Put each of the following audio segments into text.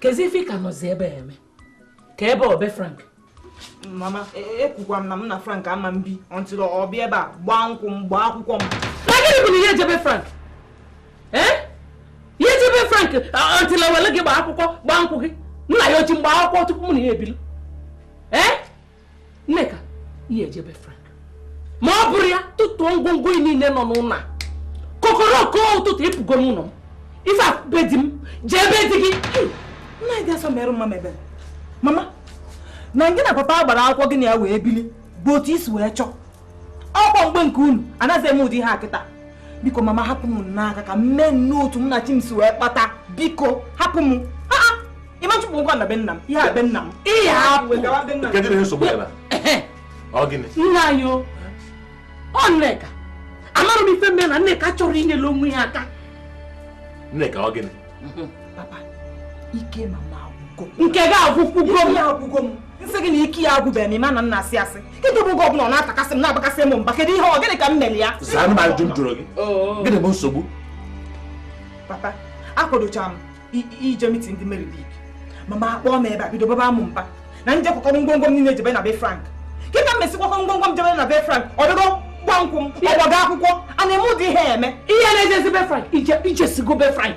kezi ife ị ka nọzi ebe a eme ka ebe ọ be frank mama ekwukwa m na m na frank ama m bi until ọ bịa ebe a gbaa nkwụ m gbaa akwụkwọ m na gịnị bụ na ị ya-eje be frank ee ị ya-eje be frank until o wele gị gbaa akwụkwọ gbaa nkwụ gị nna yị o ji m gbaa akwụkwọ tupu m na ya ebili ee Nneka ị ya-eje be Frank ma ọ bụrọ ya tụtụọ ngwongwo ị niile nọ n'ụlọ a kokoroko ụtụtụ ị pụgo n'ụlọ m ife a be di m jee be di gị nna gị asọ merụ mma mebe mama na gị na papa agbarọ akwụkwọ gị na ya wee bili bụ otu i si wee chọọ ọkwa mgbe nke unu anaghị eme ụdị ihe a kịta biko mama hapụ m n'aka ka m mee n'otu m na chi m si wee kpata biko hapụ m ị ma chụpụ m kwa na be nna m ihe a be nna m ihe hapụ nna anyị o ọ nneka amarọ m ife m mee na nneka achọrọ inyere onwe ya aka nneka ọ gịnị papa ike mama agwụgo nke gị agwụkwugo m m sị gị na ike ya agwụbeghị m ị ma na m na-asị asị kịta bụ oge ọ bụla ọ na-atakasị m na-abakasị m mba kedu ihe ọ gịnị ka m mere ya zaa m ajụ m jụrụ gị oh. gịnị bụ nsogbu papa akwadochara m ije mitin ndị Mary League mama akpọọ m ebe a bido baba m mba na m jee kwakọrọ ngwongwo m niile jebe na be Frank kịta m mesikwa ngwongwo m jebe na be Frank ọ bịago gba nkwụ m ọ gbago akwụkwọ a na-eme ụdị ihe eme ihe na-ejezi be Frank i jesigo be Frank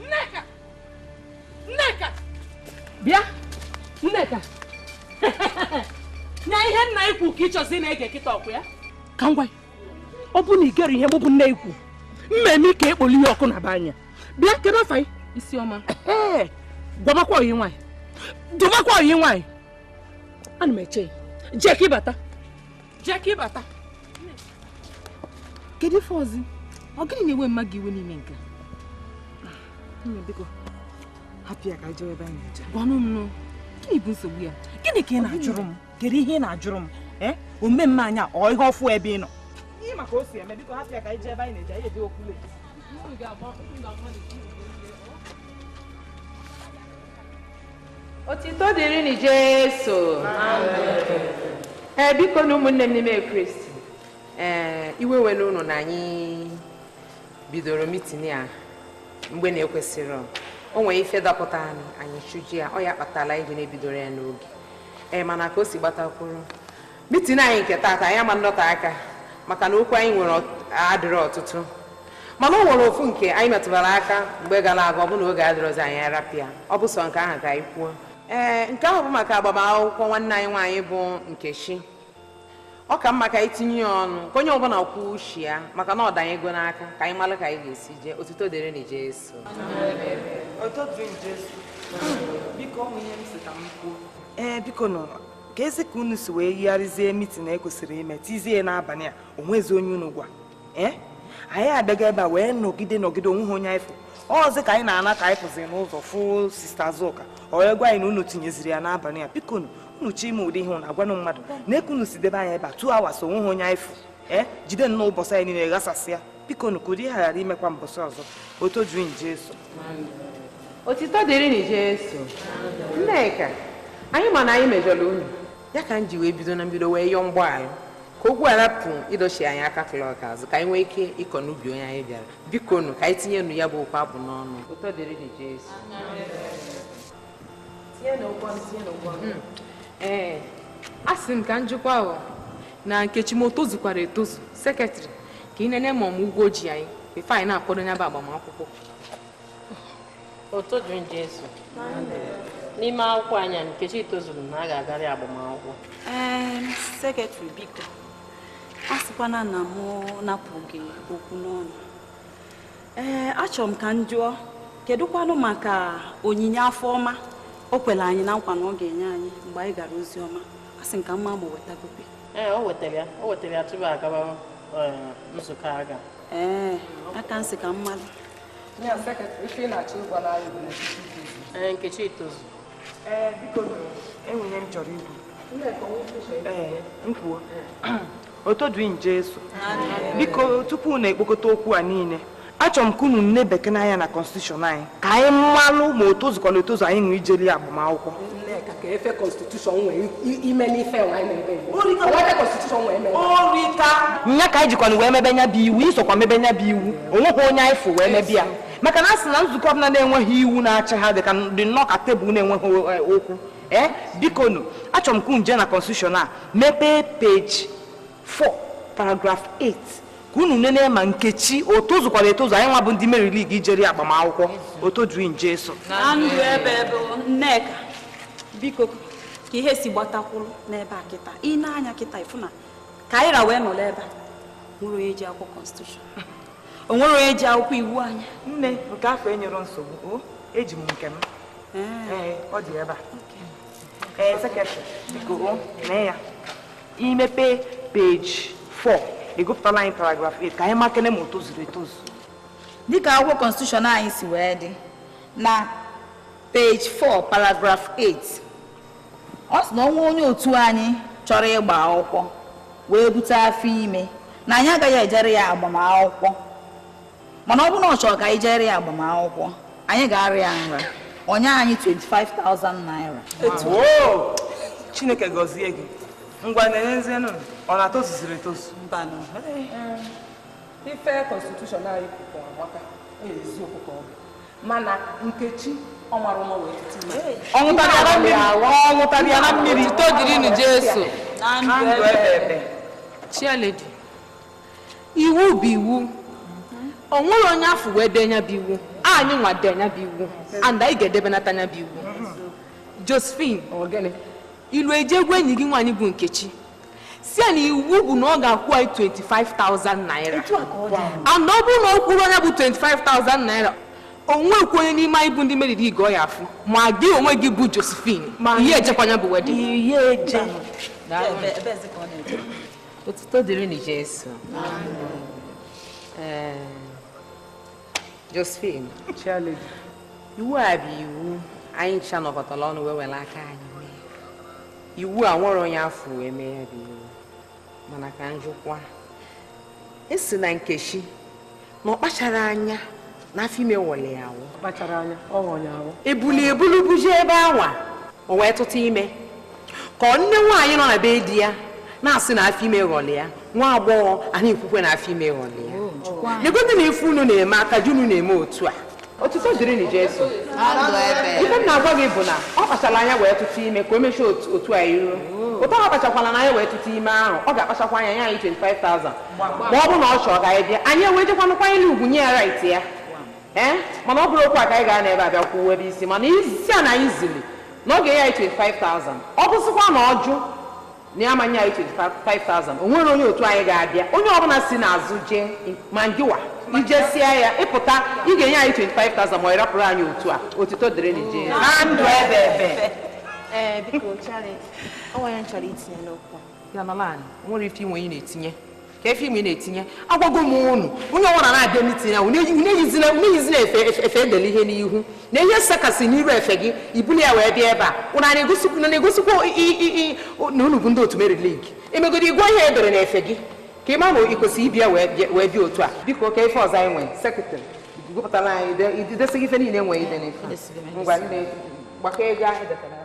Nneka! Nneka! Bịa! Nneka! Nya ihe nna ị kwu ka ị chọzi ịna-ege kịta ọkwa ya? Ka ngwa ọ bụ na ị gere ihe mụ bụ nne ị kwu mmemme ka ekpoli ya ọkụ na be anya bịa kedu afa ị isiọma gwabakwa ọyị ị nwaanyị dụbakwa ọyị ị nwaanyị ana m eche gị ka ị bata jee ka ị bata kedu ife ọzọ ọ gịnị na-ewe mama gị iwe n'ime nke biko hapụ ya ka anyị jewe ebe anyị na-eje gwanụ m gịnị bụ nsogbu ya gịnị ka ị na-ajụrụ m kedu ihe ị na-ajụrụ m ee omume mama ọ ihe ọfụụ ebe ị nọ ị ma ka o si eme biko hapụ ya ka anyị jee ebe anyị na-eje anyị ejekwa late otito dịrị nị jesu ee biko nụ ụmụnne m n'ime kristi ee iwe ewena unu na anyị bidoro mitin a mgbe na-ekwesịrọ o nwere ife dapụtanụ anyị chụje ya ọ ya kpatara anyị ji na-ebidorọ ya n'oge ee eh, mana ka o si gbatakwuru mitin anyị nke taata anyị ama ndọta aka maka na okwu anyị nwere adịrọ ọtụtụ mana o nwere ofu nke anyị metụbara aka mgbe gara aga ọ bụ na oge adịrọzi anyị arapụ ya ọ bụ sọ nke ahụ ka anyị kwuo ee eh, nke ahụ bụ maka agbamakwụkwọ nwanne anyị nwaanyị bụ Nkechi ọ ka mma ka anyị tinye ya ọnụ ka onye ọbụla kwuo uche ya maka na ọ danyego n'aka ka anyị mara ka anyị ga-esi jee otito dịrị nụ Jesu ee eh, biko nụ keezi ka unu si wee yigharịzie mitin e kwesịrị ime tizie n'abalị a o nwezi onye unu gwa ee eh? anyị abịaga ebe a wee nọgide nọgide o nweghị onye anyị fụ ọzi ka anyị na-ana ka anyị pụzi n'ụzọ fụ sista Azụka o wee gwa anyị na unu tinyeziri ya n'abalị a biko unu chọọ ime ụdị ihe a unu agwanụ mmadụ nee ka unu si debe anyị ebe a two hours o nweghị onye anyị fụ ee jide nnọọ ụbọchị anyị niile ghasasịa biko nụ ka ụdị ihe a ghara imekwa mbọsị ọzọ otito dịrị nụ Jesu otito dịrị nụ Jesu Nneka anyị ma na anyị mejọrọ unu ya ka m ji wee bido na mbido wee yọọ mgbaghara ka okwu a rapụ ịdọchi anyị aka klọk azụ ka anyị nwee ike ịkọ n'ubi onye anyị bịara biko nụ ka anyị tinye nụ ya bụ okwu ahụ n'ọnụ otito dịrị nụ Jesu Hmm. ee asị m ka m jụkwaa na Nkechi ma o tozukwara etozu sekretrị ka ị nene ma o nwe ụgwọ o ji anyị before anyị na-akwado nya bụ agbamakwụkwọ otito dịrị nụ Jesu n'ime akwụkwọ anyị Nkechi tozuru na a ga-agara ya agbamakwụkwọ ee sekretrị biko asịkwana na mụ napụ gị okwu n'ọnụ ee achọrọ m ka m jụọ kedụkwanụ maka onyinye afọ ọma o kwere anyị na nkwa na ọ ga-enye anyị mgbe anyị gara ozi ọma asị m ka m ma ma o wetagobe ee o wetara ya o wetara ya tupu agaba eh, nzukọ aga ee ya ka m sị ka m malụ Ya sekretrị ife ị na-achọ ịgwa anyị bụ na Nkechi tozu. ee Nkechi tozu Ee, biko e nwere ihe m chọrọ ikwu. Ee, m kwuo. Otito dịrị nụ Jesu, biko tupu unu ekpokọta okwu a niile achọrọ m ka unu nebakene anya na kọnstitushọn anyị ka anyị malụ ma o tozukwala etozu anyị nwa ijelụ ya agbamakwụkwọ nya ka anyị jikwanụ wee mebe nya bụ iwu i sokwa mebe nya bụ iwu o nweghị onye anyị fụ wee mebe ya maka na a sị na nzukọ ọbụla na-enweghị iwu na-achị ha dị ka dị nnọọ ka tebụl na-enweghị eh, ụkwụ ee biko nụ achọrọ m ka unu jee na constitution a mepee peji 4 paragraf 8 ka unu nene ma Nkechi o tozukwara etozu anyị nwa bụ ndị Mary League ijere ya agbamakwụkwọ otito dịrị nụ Jesu na ndụ ebeebe Nneka biko ka ihe si gbatakwuru n'ebe a kịta i nee anya kịta ị fụ na ka anyị ra wee nọrọ ebe a o nwerọ onye ji akwụkwọ constitution o nwere onye ji akwụkwọ iwu anyị nne nke afụ enyero nsogbu o eji m nke m ee ọ dị ebe a ee sekretrị biko o mee ya i mepe peji 4 ị gụpụtala anyị paragraf 8 ka anyị makene ma o tozuru etozu dịka akwụkwọ konstitushọn anyị si wee dị na Page 4, paragraph 8. Ọ sị na o nwee onye otu anyị chọrọ ịgba akwụkwọ wee bute afọ ime na anyị agaghị ejere ya agbamakwụkwọ mana ọ bụrụ na ọ chọrọ ka anyị jere ya agbamakwụkwọ anyị ga-ara ya nra o nye anyị 25,000 naira Woo! chineke gọzie gị ngwa nenezienụ ọ na o tozuziri etozu mbanụ ife konstitushọn anyị kwuru amaka eziokwu ka ọ bụ mana Nkechi ọ mara ụma wee tụta ime. Ọ nwụtara ya na mmiri. Ọ nwụtara ya na mmiri. Otuto dịrịnụ Jesu. Na ndụ ebe ebe. Chialedi, iwu bụ iwu. O nwere onye a fụ wee dee nya bụ iwu. Anyị nwa dee nya bụ iwu. And anyị ga-edebenata nya bụ iwu. Josephine, i lu i je gwa enyi gị nwaanyị bụ Nkechi. sị ya na iwu bụ na ọ ga-akwụ anyị 25,000 naira and ọ bụrụ na ọ kwụrọ nya bụ 25,000 naira o nwekwu onye n'ime anyị bụ ndị Mary League ọ ya-afụ ma gị onwe gị bụ Josephine i ye-ejekwa nya bụ wedin otuto dịrịnụ Jesu Josephine Chialedi iwu a bụ iwu anyị ncha nọkọtara ọnụ wee were aka anyị mee iwu a nwere onye a fụ wee mee ya bụ iwu mana ka m jụkwa a sị na Nkechi na ọ kpacharọ anya na afọ ime ghọlụ ya aghọ kpacharọ anya ọ ghọrọ ya aghọ e bulu ya ebulu buje ebe anwa o wee tụta ime ka ọ nne nwaanyị nọ na be di ya na-asị na afọ ime ghọlụ ya nwa agbọghọ a na-ekwukwa na afọ ime ghọlụ ya negodunụ ife unu na-eme aka ji unu na-eme otu a otuto dịrịnụ Jesu ife m na-agwa gị bụ na ọ kpachara anya wee tụta ime ka o mechue otu otu a iru otu ọ kpachakwala anya wee tụta ime ahụ ọ ga-akpachakwa anya nye anyị 25,000 ma ọ bụrụ na ọ chọrọ ka anyị bịa anyị ewee jekwanụ kwanyere ugwu nye ya rait ya ee mana ọ bụrọ okwu a ka anyị ga-anọ ebe a bịa kwuo ebe isi mana ị sị ya na anyị zili Na ọ ga-enye anyị 25,000, ọ bụzịkwa na ọ jụ na ya ma-enye anyị 25,000 o nwere onye otu anyị ga-abịa onye ọbụla si n'azụ jee ma ngị nwa i jesịa ya ị pụta ị ga-enye anyị 25,000 ma ọ ị rapụrụ anyị otu a otito dịrịnụ Jesu na ndụ ebe ebe Ee, biko Chialedi, o nwere ife m chọrọ itinye n'okwu a. ya nọlụ anị o nwere ife i nwe ị na-etinye ka efe ime na-etinye agwago m unu onye ọbụla na-abịa mitin ya unu eyizina efe edele ihe n'ihu na ihe sekasị n'iru efe gị ibuli ya wee bịa ebe a unu na-egosikwa na unu bụ ndị otu Mary League emegodi ị gụọ ihe edere na efe gị ka ị ma na ị kwesịrị ịbịa wee bịa otu a biko ka ife ọzọ anyị nwee sekretarị gụpụtara anyị idesịghị ife niile nwee ide n'ife ngwa ndị gbakọ ego anyị detara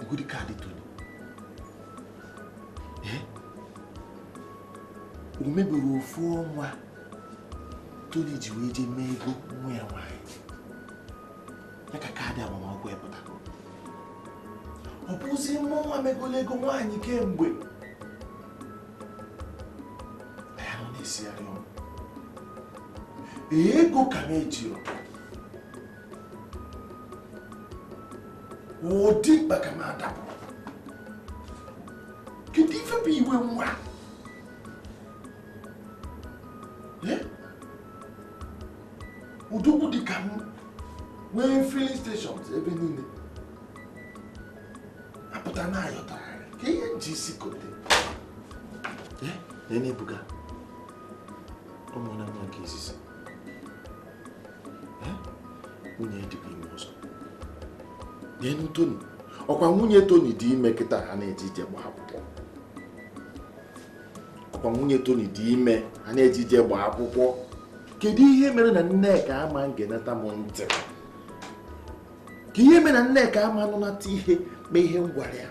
Negodi kaadị Tony. Eh? O mebero ofu ọnwa Tony ji wee jee mee ego nwa ya nwaanyị. Ya ka kaadị agbamakwụkwọ ya pụta. Ọ bụzi mụ nwa megolo ego nwaanyị kemgbe. Ya nọ na-esigharị ọnụ. Ego ka m ejiro. ụdị maka m adapụ kedu ife bụ iwe nwa udogwu dị ka m nwee filling stations ebe niile apụta na aghọtarọ ka ihe m ji isi kote nee Ebuka ọ mụọna nwa nke izizi nwunye dịkwa ime ọzọ neenụ toni ọkwa nwunye toni dị ime kịta ha na-eje ije gbaa akwụkwọ ọkwa nwunye toni dị ime ha na-eje ije gbaa akwụkwọ kedu ihe mere na nneka ama ngenata m ntị kee ihe mere na nneka ama nụnata ihe ma ihe m gwara ya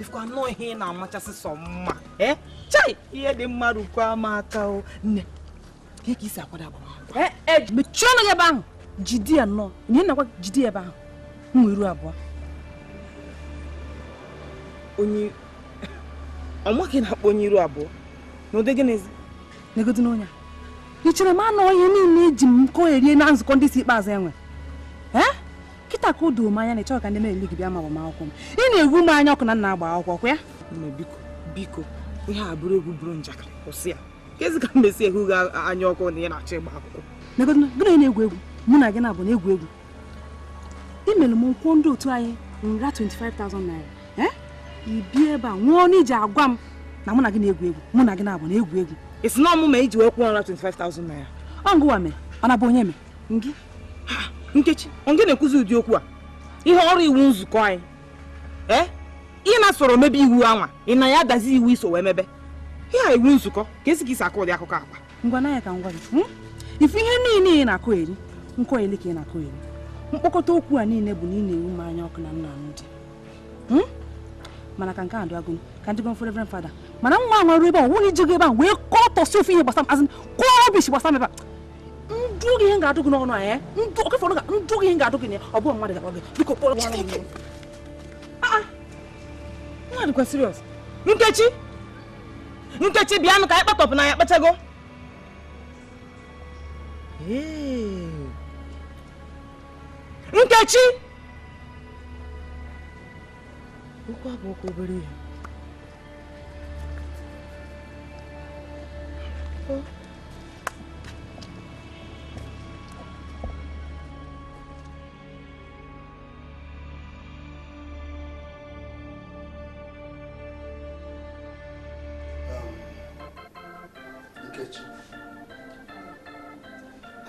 ifukwa anụ ihe ị na-amachasị sọ mma eh? chai ihe dị mma rukwaa m aka o nne ka ị si akwado agbamakwụkwọ eh, eh, mechie ọnụ gị ebe ahụ jide ya nnọọ ihe nakwa jide ya ebe ahụ onye iru abụọ onye ọ mụ ka ị na-akpọ onye iru abụọ n'ụdị gịnịzi negodu n'onye ị chere m anụ ihe niile eji m nkọ erie na nzukọ ndị isi ikpeazụ enwe ee kịta ka o doo m anya na ịchọghị ka ndị Mary League bịa na agbamakwụkwọ m ị na-enwu m anya ọkụ na m na-agba akwụkwọ ọ kwa ya biko biko ihe a bụrụ egwu bụrụ njakịrị kwụsị ya kezi ka m mesi enwu gị anya ọkụ na ị na-achọ ịgba akwụkwọ negodu gị na egwu egwu mụ na gị na-abụ na egwu egwu i mere m kwụọ ndị otu anyị nra 25,000 naira eh? ị bịa ebe a nwụọ n'iji agwa m na mụ na gị na-egwu egwu mụ na gị na-abụ na-egwu egwu esi na ọmụma iji wee kwụọ nra 25,000 naira ọ ngụwa mee ọ na-abụ onye mee ngị nkechi ọ ngị na-ekwuzi ụdị okwu a ihe ọrụ iwu nzukọ anyị ee eh? ị na-esoro mebe iwu a nwa ị na ya dazi iwu i so wee mebe ihe a iwu nzukọ ka esi ka i si akọ ụdị akụkọ akwa ngwa na ya ka m gwa gị hmm? ị fụ ihe niile ị na-akọeri nkọeri ka ị na-akọeri mkpokọta okwu a niile bụ na ị na-ewu m anya ọkụ na nna m dị hmm? mana ka nke a dụ agụnụ ka ndị gọmfọ reverend fada mana nwa nwa ruo ebe a nwunye ijego ebe a wee kọtọsi ofe ihe gbasara azụ kọọ rubbish gbasara ebe a m dụọ gị ihe ga-adụ gị n'ọnụ anyị eh? ndụ oke fọrọ ndụ oge ihe ga-adụ gị na ọ bụghị mmadụ ga-agwa gị biko kpọrọ chineke ah, ah. mmadụ kwa serious nkechi nkechi bịanụ ka anyị kpatọpụ na ya kpachago ee nkechi okwu a abụkwa obere ihe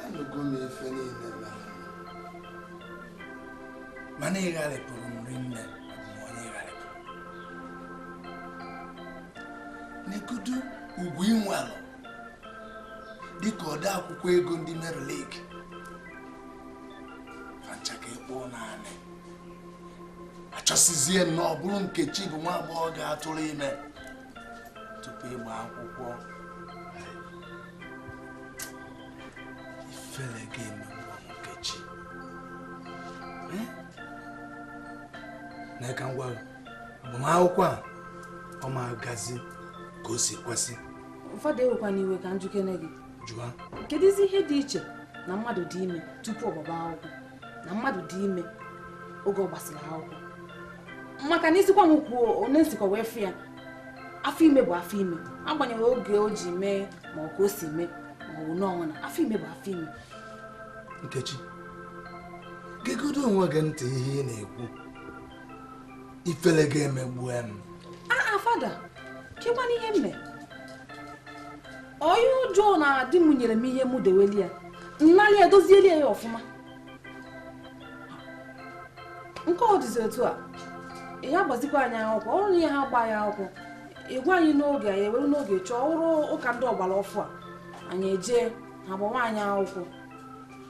anụgo m ife niile mere mana ị gharịpụrụ m rinne mụọ na ị gharịpụrụ negodu ugwu i nwelu dịka ode akwụkwọ ego ndị Mary League fa ncha ka ị kpụ n'anị a chọsizie nnọọ ọ bụrụ nkechi bụ nwa agbọghọ ga-atụrụ ime tupu ịgba akwụkwọ ifere ga-emegbu nkechi na ka m gwara agbamakwụkwọ a ọ ma agazi ka o si kwesị fada ewekwana iwe ka m jụkene gị ajụjụ kedụzi ihe dị iche na mmadụ dị ime tupu ọ gbaba akwụkwọ na mmadụ dị ime oge ọ gbasịrị akwụkwọ maka na ị sịkwa m kwuo onye m sikwa wee fụ ya afọ ime bụ afọ ime agbanyeghị oge o ji mee ma ọ ka o si mee ma ọ bụ n'ọnwa na afọ ime bụ afọ ime nkechi gegodo onwe gị ntị ihe ị na-ekwu ifele ga-emegbu m aa fada kekwana ihe m mere onye ọjọọ na di m nyere m ihe m deweli ya nnali edozieli ya ọfụma nke ọ dịzi otu a ya gbazikwa anyị akwụkwọ ọ bụrụ ị ya agba anyị akwụkwọ ị gwa anyị n'oge anyị ewere n'oge chọọ ụlọ ụka ndị ọgbara ọfụụ a anyị ejee ha gbawa anyị akwụkwọ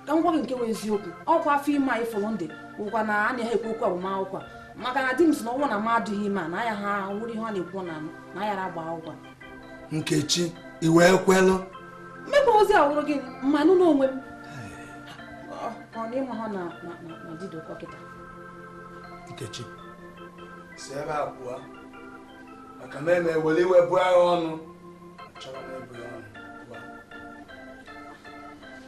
ka m gwa gị nke bụ eziokwu ọkwa afọ ime a ị fụrụ m dị ọkwa na a na-eji ekwu okwu agbamakwụkwọ maka na di m sị na ọ bụrụ na m adịghị ime a na aya ha nwere ihe ọ na-ekwu na na ayara agba akwụkwọ nkechi i wee kwelụ mmekwa ozi awụrụ gị mmanụ n'onwe m ọ na ị mara na di dị ụkọ kịta nkechi si ebe a pụọ maka na m ewere iwe bụọ gị ọnụ achọrọ m ịbụ ya ọnụ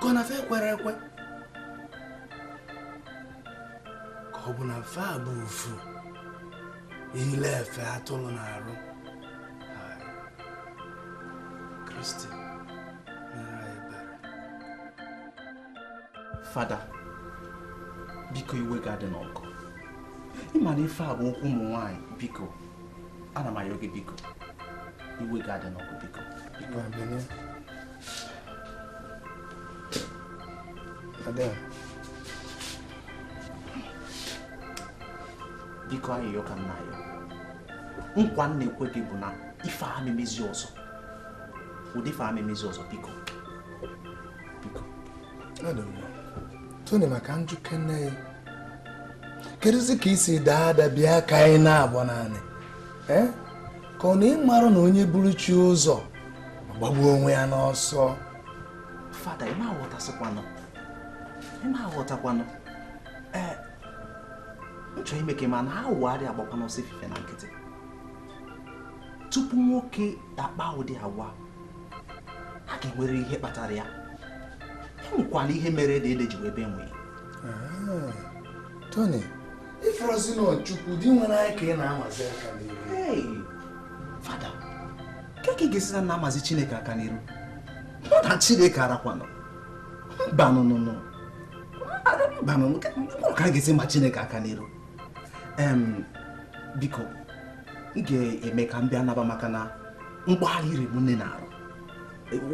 ka ọ na fa kwere ekwe ka ọ bụ na fa bụ ufu yili efe atụrụ n'arụ kristi fada biko iwe gị adịna ọkụ ị ma na ife a bụ okwu ụmụ nwaanyị biko ana m ayọ gị biko iwe gị adịna ọkụ biko biko ayịyọ ka m na-ayọ nkwa m na-ekwe gị bụ na ife a ama emezi ọzọ ụdị ife a ama emezi ọzọ biko biko Tony ma ka m jụkene ya kedụzi ka i si daa ada bịa ka anyị naba naanị eh? ka ọ na ị marọ na onye buru chi ụzọ gbagbuo onwe ya n'ọsọ fada ị ma aghọtasịkwanụ ị ma aghọtakwanụ ee m chọ ime ka ị ma na awọ anaghị agbakwanụ ọsọ efifie na nkịtị tupu nwoke akpa ụdị agwa a ga-enwere ihe kpatara ya e nwekwalụ ihe mere ede ede ji wee bee nwii ah, Tony ị fụrọzi na ọ chukwu di nwere anyị ka ị na-amazi aka n'iru fada kee ka ị ga-esi na na-amazi chineke aka n'iru mụ na chineke arakwanụ mbanụnụnụ mbanụnụ ka a ga-esi ma chineke aka n'iru biko m ga-eme ka m bịa naba maka na mgbagharị riri m nne n'arụ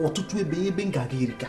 ọtụtụ ebe ebe m ga-aga erika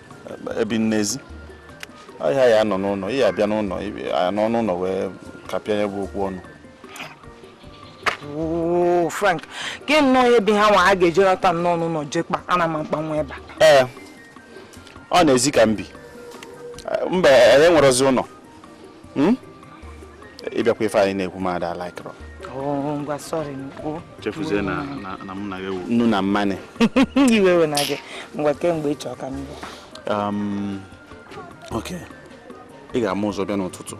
ebi m n'ezi ọ a ya anọ n'ụnọ ị ya abịa n'ụnọ a nọ n'ụnọ wee kapịa ya bụ okwu ọnụ Frank gị nnọọ ihe bi ha nwa a ga-ejerọta nnọọ n'ụnọ je kpaa anyị ama akpanwu ebe a ee ọ n'ezi ka m bi mba enwerọzi ụnọ hmm? ịbịakwa ife anyị na-ekwu mmadụ alaikọrọ oh, chefuzie na mụ na gị wụ nnu na mmanụ iwe ewena gị ngwa kemgbe ị chọ ka m um, ok ị ga-ama ụzọ bịa n'ụtụtụ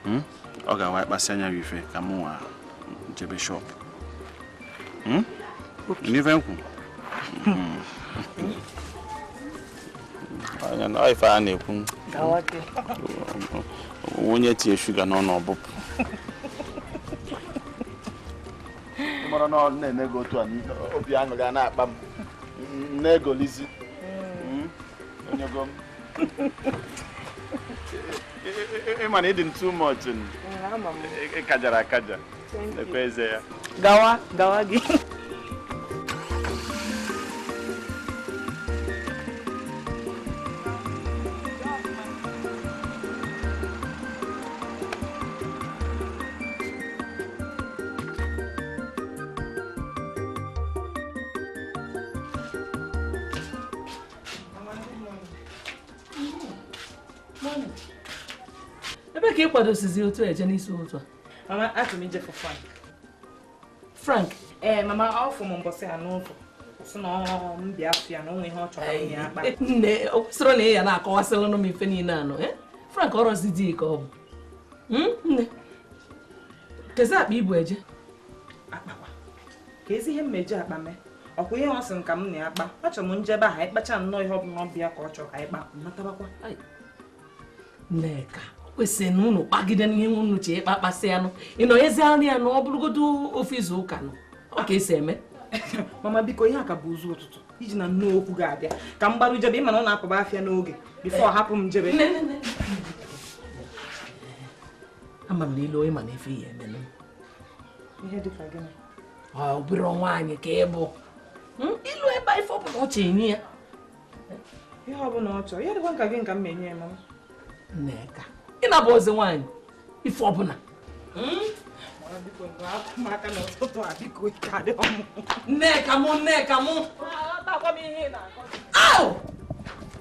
hmm? ọ ga-awa ịkpasị anya gị ife ka m nwa jebe shop hmm? n'ife m kwu ife a na-ekwu onye tinye shuga n'ọnụ ọ bụpụ mara na ọ na-eme gị otu a obi aṅụrị a na-akpa m na-egolizi hmm. onye ego m ị ma na ị dị m too much kajara akaja gawa gawa gị ebe ka ị kwadosizi otu a eje n'isi ụtụtụ mama achọrọ m ije fụ frank frank ee mama ọ fụ m mbọsị a n'ụzọ sị na ọ m bịa fụ ya na o nwe ihe ọ chọrọ m ya akpa nne o kwesịrị na ị ya na-akọwasịlụnụ m ife niile anọ eh? frank ọrọzi di ka ọ bụ Hmm, nne kezi akpa i bu eje akpa kwa kezi ihe m eji akpa eme ọ kwa ihe ọ sị m ka m na ya kpa achọrọ m m jebe ahụ anyị kpacha nnọọ ihe ọ bụla ọ bụ ya ka ọ chọrọ ka anyị kpa m natabakwa Ai, nneka kwesịrị na unu kpagide n'ihe unu chọ ịkpa kpasịanụ ịnọ ezi anụ ya na ọ bụrụgodu o fee izu ụka anọ ọ ka e si eme mama biko ihe a ka bụ ụzọ ụtụtụ i jina nnọọ okwu gị a bịa ka m gbaru jebe ị ma na ọ na-apụba afịa n'oge before hapụ m jebe ama m na i lu ị manụ ife ị ya-eme nụ ihe dịka gịnị ọ bụrọ nwaanyị ka ị bụ hmm? i lu ebe a ife ọ bụla ọ chọ i nye ya ihe ọ bụla ọ chọrọ ya dịkwa ka gịnị ka m ma enye ya mama nneka ị na-abụzi nwaanyị ife ọ bụla nneka mụ nneka mụ ahụ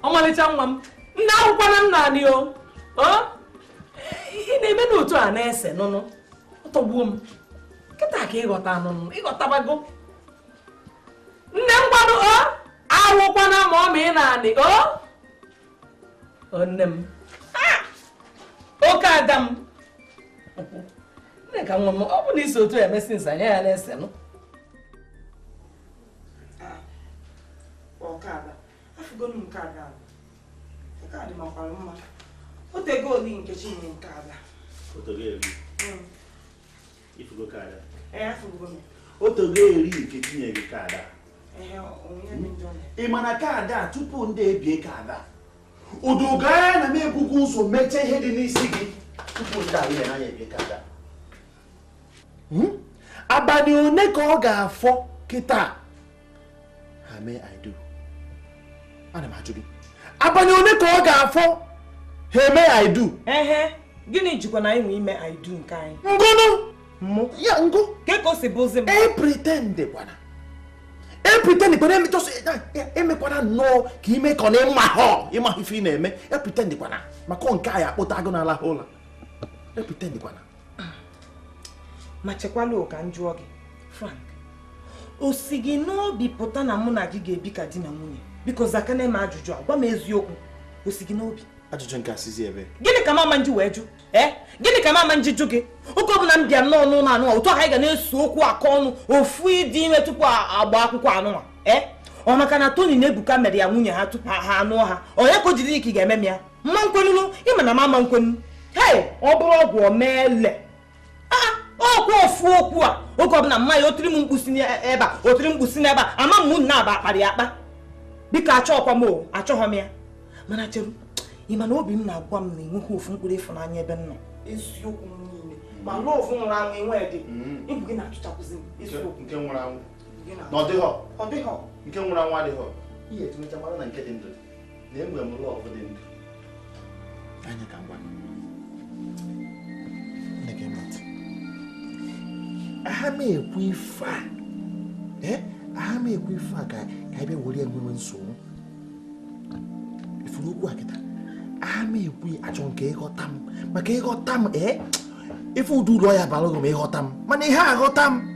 ọmalịcha nwa m nne akwụkwọ na nna anyị o Ọ? ị na-eme n'otu a na-ese nụnụ ọ tọgbuo m kịta ka ị ghọta nụnụ ị ghọtabago nne ngwanụ o awụkwana ma ọ ma ị na-anị o nne m oke ada m Nneka nwa m ọ bụ na isi otu emesi nsa anya ya na-ese nụ ọkada afụgolu nke ada nke a dị makwara mma o tego eri nke chi nke ada o tego eri nke tinye gị kaadị ị ma na kaadị a tupu ndị ebie kaadị a uduga ya na m ebugo ụzọ mechaa ihe dị n'isi gị tupu ndị ahụ ya na ya ebie kaadị a hmm? abalị one ka ọ ga-afọ kịta ha mee I do ana m ajụ gị abalị ole ka ọ ga-afọ ha eme I do ehe gịnị jikwa anyịnwa ime I do nke anyị ngụ nụ mụ ya ngụ kee ka o si bụzi m e pretend kwana e pretend kwana emechọsị emekwana nnọọ ka ị me ka ọ na ị maha ị maha ife ị na-eme e pretend kwana maka nke a ya-akpọte agụ na-alaha ụla e pretend kwana ma chekwalụ ka m jụọ gị Frank o si gị n'obi pụta na mụ na gị ga-ebi ka di na nwunye biko zakene m ajụjụ a gwa m eziokwu o si gị n'obi ajụjụ nke a sizi ebe gịnị ka m ma-eji wee jụ ee eh? gịnị ka m ma-eji jụ gị oge ọbụla m bịa nnọọ n'ụlọ anụnwa otu anyị ga na-ese okwu akọ ọnụ ofu ịdị ime tupu agba akwụkwọ anụnwa ee eh? ọ maka na Tony na Ebuka mere ya nwunye ha tupu ha anụọ ha ọ ya ka o jiri ka ị ga-eme m ya m ma-ekwenụnụ ị ma na m ma-ekwenụ hei ọ bụrụ ọgwụ ọ ma-ele ọkwa ofu okwu a oge ọbụla mma ya o tiri m mkpu si n'ebe a o tiri m mkpu si n'ebe a ama m nna aba akpara ya akpa biko achọghịkwa m o achọghọ m ya mana cheru ị ma na obi m na-agwa m na i nweghị ofu mkpụrụ ịfụnanya ebe m nọ eziokwu m niile ma love nwụrụ anwụ enwe dị ịbụ gị na-achụchakwụzi m eziokwu nke nwụrụ anwụ na ọ dịghọ nke nwụrụ anwụ adịghọ ihe etinyecha mara na nke dị ndụ na enwe m love dị ndụ anya ka ngwa aha m ekwu ife a eh? aha m ekwu ife a ka anyị bịa were nwewe nsogbu ị fụrụ okwu a kịta aha m ekwu achọ m ka ị ghọta m maka ị ghọta m ee eh? ị fụ ụdị ulu ọ ya-abalụ gị ma ị ghọta m mana ị ha aghọta m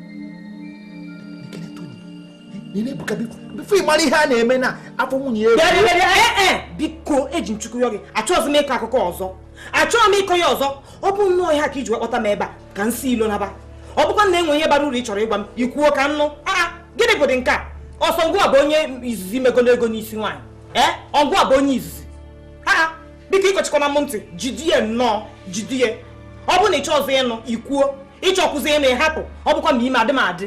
before ị mara ihe a na-eme na afọ nwunye ya biko eji m Chukwu yọ gị achọghịzi m ịkọ akụkọ ọzọ achọghị m ịkọ ya ọzọ ọ bụ nnọọ ihe a ka i ji kpọta m ebe a ka m si ilo naba ọ bụkwa na e nwe ihe bara uru ị chọrọ ịgwa m i kwuo ka m nụ aa gịnị bụdị nke a ọ sọ ngụwa bụ onye izizi megolo ego n'isi nwaanyị ee ọ ngụwa bụ onye izizi aa biko akọchikwana m ntị jidie nnọọ jidie ọ bụ na ị chọ ọzọ ịnụ i kwuo ị chọkwụzi ịnụ ị hapụ ọ bụkwa ma ime adị m adị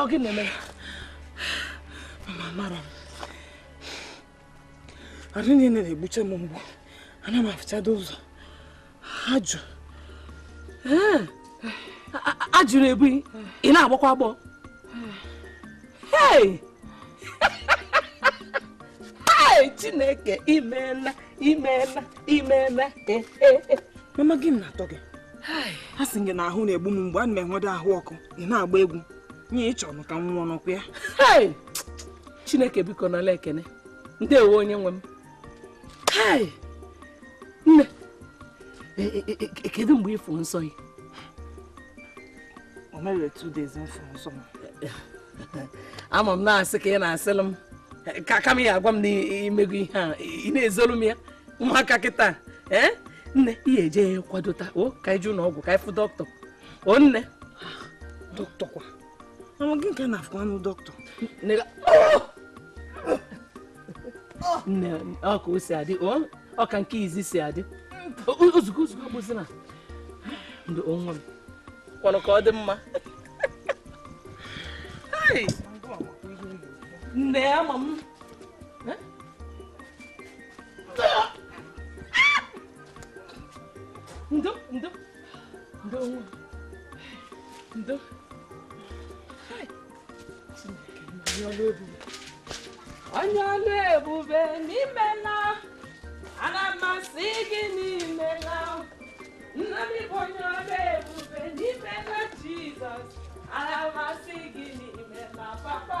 ọ gịnị na-eme mama amarọ m arụ niile na-egbucha m mgbu ana m afụchado ụzọ ajụ ajụ na-ebu gị ị na-agbọkwa agbọ chineke imeela imeela imeela mama gịnị na-atọ gị a sị gị na ahụ na-egbu m mgbu ana m enwedo ahụ ọkụ ị na-agba egwu nye ị chọrọ ka m nwụọ ọkwa ya chineke biko nala ekene ndewo onye nwe m nne e, e, e, kedu mgbe ị fụrụ nsọ gị o mere two days m fụ nsọ m ama m na asị ka ị na-asịlụ m kama ị ya-agwa m na i mego ihe a ị na-ezolu m ya ụmụaka kịta ee eh? nne ị ya-eje kwadota o ka i je ụnọ ọgwụ ka ị fụ dọkịta o nne dọkịta kwa mama gị nke na-afụ anụ dọkịta nne ọ ka o si adị ọ ka nke izizi si adị ozugbo ozugbo bụzi na ndụ onwe m kwanụ ka ọ dị mma nne ama m ndo ndo ndo nwa ndo onye ọlụ ebube na imeela ana m asị gị na imeela nna m bụ onye ọlụ ebube na imeela jizọs ana m asị gị na imeela papa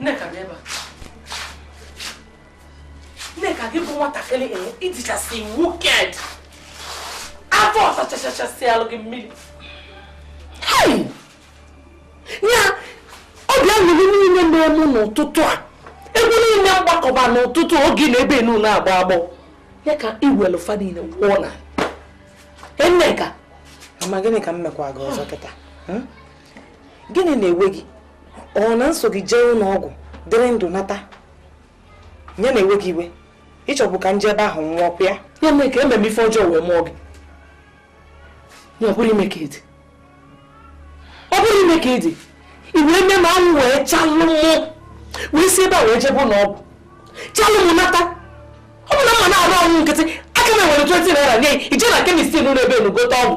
Nneka bịa ebe a. Nneka gị bụ nwatakịrị ee ị dịchasị wicked afọ ọsachachachasị alụ gị mmiri. Ya obi aṅụrị niile na-eme m n'ụtụtụ a egwu niile m gbakọba n'ụtụtụ a oge ị na-ebe na ị na-agbọ agbọ ya ka i welu fa niile wụọ n'ana Nneka. Mama gịnị ka m mekwa gị ọzọ kịta? gịnị na-ewe gị ọ na m so gị jee ụlọ ọgwụ dịrị ndụ nata ya na-ewe gị iwe ị chọbu ka m je ebe ahụ nwụọ ọkwa ya ya mee ka m mee ife ọjọọ wee mụọ gị ya ọ bụrọ ime ka ị dị ọ bụrọ ime ka ị dị i wee mee mụ anwụ wee chalụ mụ wee si ebe a wee jebe ụlọ ọgwụ chalụ mụ nata ọ bụrụ na m ma na arụ ọkụ nkịtị aka m ewere 20 naira nye gị i je na kemist n'ụlọ ebe enu gote ọgwụ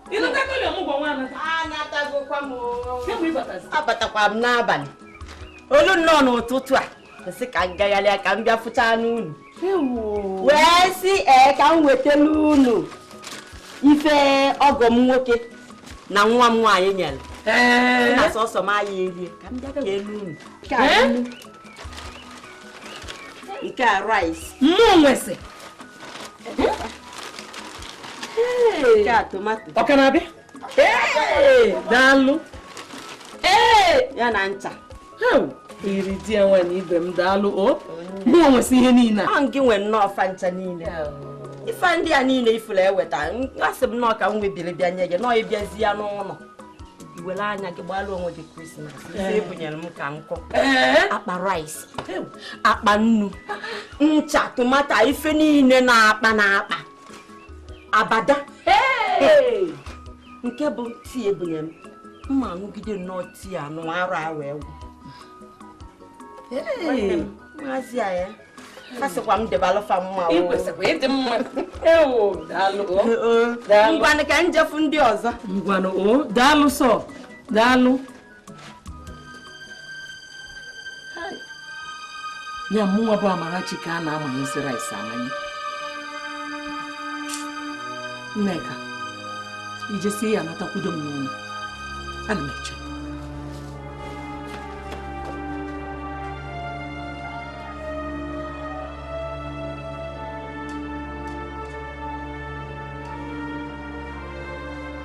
abatakwa m n'abalị o lu nnọọ n'ụtụtụ a m sị ka m gagharịa ka m bịa fụchanụ unu wee sị ee ka m wetara unu ife ọgọ m nwoke na nwa m nwaanyị nyere na sọsọ m aya erie ka m bịa keelu unu nke a rice mụ nwesị ọ ka na-abịa daalụ ya na ncha iri di ya nwaanyị ibe m daalụ o mụ nwesị ihe niile a ọ gị nwe nnọọ fa ncha niile ife ndị a niile ị fụrụ eweta asị m nnọọ ka m webiri bịa nye gị nnọọ ị bịazia n'ụlọ i were anya gị gbalụ onwe gị krismas ife ebunyere m ka nkụ akpa rice akpa nnu ncha tomato ife niile n'akpa n'akpa abada nke bụ tii ebunye m mma aṅụgide nnọọ tii anụ arụ a wee gwụ maazị a ya asịkwa m debalụfa mma ngwanụ ka m jee fụ ndị ọzọ ngwanụ o daalụ sọ daalụ ya mụnwa bụ Amarachi ka a na-amanyezi rice amanye Nneka i jesịa natakwudo m n'ụlọ ana m eche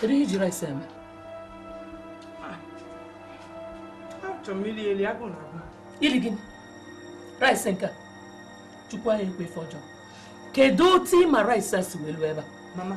Kedu ihe i ji rice eme? Achọrọ m iri eri agụụ na-agụ. Iri gịnị? Rice nke a? Chukwu aya ekwe ife ọjọọ. Kedu otu ị ma rice a si wee luo ebe a? Mama,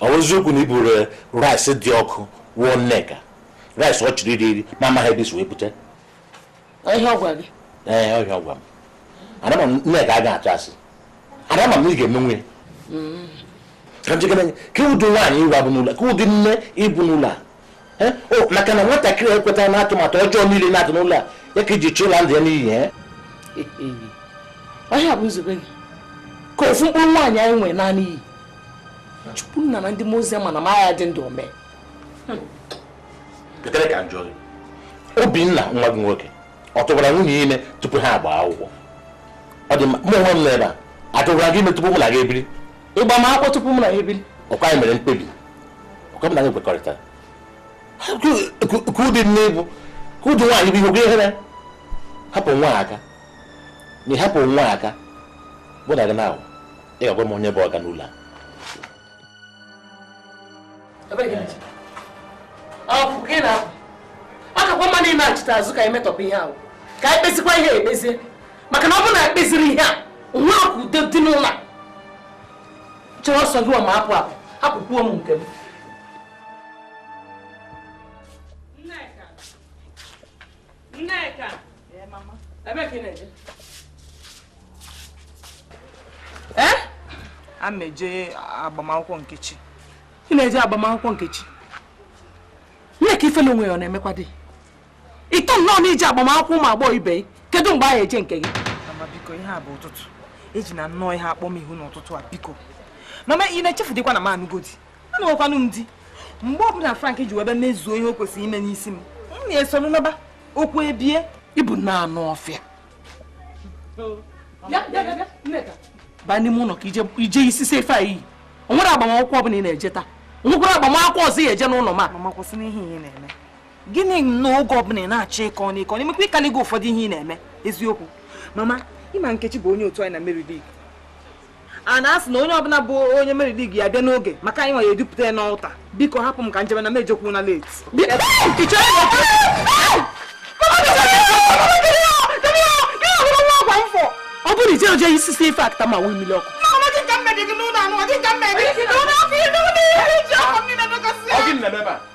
ọ bụ eziokwu na i buru eh, rice dị ọkụ wụọ nneka rice ọ chọrọ iri eri ma amaghị ebe o si wee bute ihe ọ gwa gị ee eh, ọ ihe a ọ gwa m amara m nneka a ga-atụ asị amara m ị ga-emenwu ya mm. ka m jegana kee ụdị nwaanyị gịwa bụ n'ụlọ kee ụdị nne ị bụ n'ụlọ a Eh? Oh, maka na nwatakịrị ekweta na atụmatụ ọjọọ niile ị na-atụ n'ụlọ a ya ka i ji chọọ ịla ndụ ya n'iyi eh? ọ ihe a bụ nzube gị ka ofu mkpụrụ nwaanyị anyị nwere naa n'iyi chukwu nna na ndị mozi ma na m aya adị ndụ o mee obinna nwa gị nwoke ọ tụbara nwunye ime tupu ha agba akwụkwọ ọ dị mma mụ onwe m nọ ebe a atụbara gị ime tupu mụ na gị ebiri ịgba m akwụkwọ tupu mụ na ya ebiri ọkwa anyị mere mkpebi ọkwa m na gị kwekọrịtara ka ụdị nne ị bụ ka ụdị nwaanyị bụ ihe ogwe ihere hapụ nwa aka na ịhapụ nwa aka bụ na gị na-ahụ ị ga-agwa m onye bụ ọga n'ụlọ a ọ kakwa mma nachita azụ ka anyị metọpụ ihe ahụ ka anyị kpezikwa ihe ekpezie maka na ọ bụrụ na ekpeziri ihe a nwa akụ ude dị n'ụlọ chere ọsọ gị ma apụ apụ hapụkwuo m nke m Nneka! Ee, mama. Ebe ka ị na-eje? Ee? A m eje agbamakwụkwọ Nkechi. Ị na-eje agbamakwụkwọ Nkechi? Nneka ifele onwe gị ọ na-emekwa gị? Ị tọ nnọọ n'ije agbamakwụkwọ ụmụ agbọghọ ibe gị. Kedu mgbe anyị eje nke gị? Mama biko ihe a bụ ụtụtụ. Ejina nnọọ ihe a akpọ m ihu n'ụtụtụ a biko. Mama ị na-echefudịkwa na m anụgo di. anụghọkwanụ m di mgbe ọbụla Frank ji wee bịa mezuo ihe o kwesịrị ime n'isi m m na-esoro naba okwu ebie ị bụ nnọọ anụ ọfịa baa n'ime ụlọ ka ije isi si ife anyị eri o nwere agbamakwụkwọ ọbụla ị na-eje taa o nwekwara agbamakwụkwọ ọzọ ị eje n'ụlọ ma mama kwụsịnụ ihe ị na-eme gịnị na oge ọbụla ị na-achọ ịkọ n'ịkọ n'imekwa ị kaligo ụfọdụ ihe ị na-eme eziokwu mama ị ma Nkechi bụ onye otu anyị na Mary League a na-asị na onye ọbụla bụ onye Mary League ya bịa n'oge maka anyị nwa ya edupụta ya n'altar biko hapụ m ka m jebe na m ejekwuna late ọ bụrụ ije oje isi si ife after ma wee mmiri ọkụ Ọ gị nọ n'ebe a?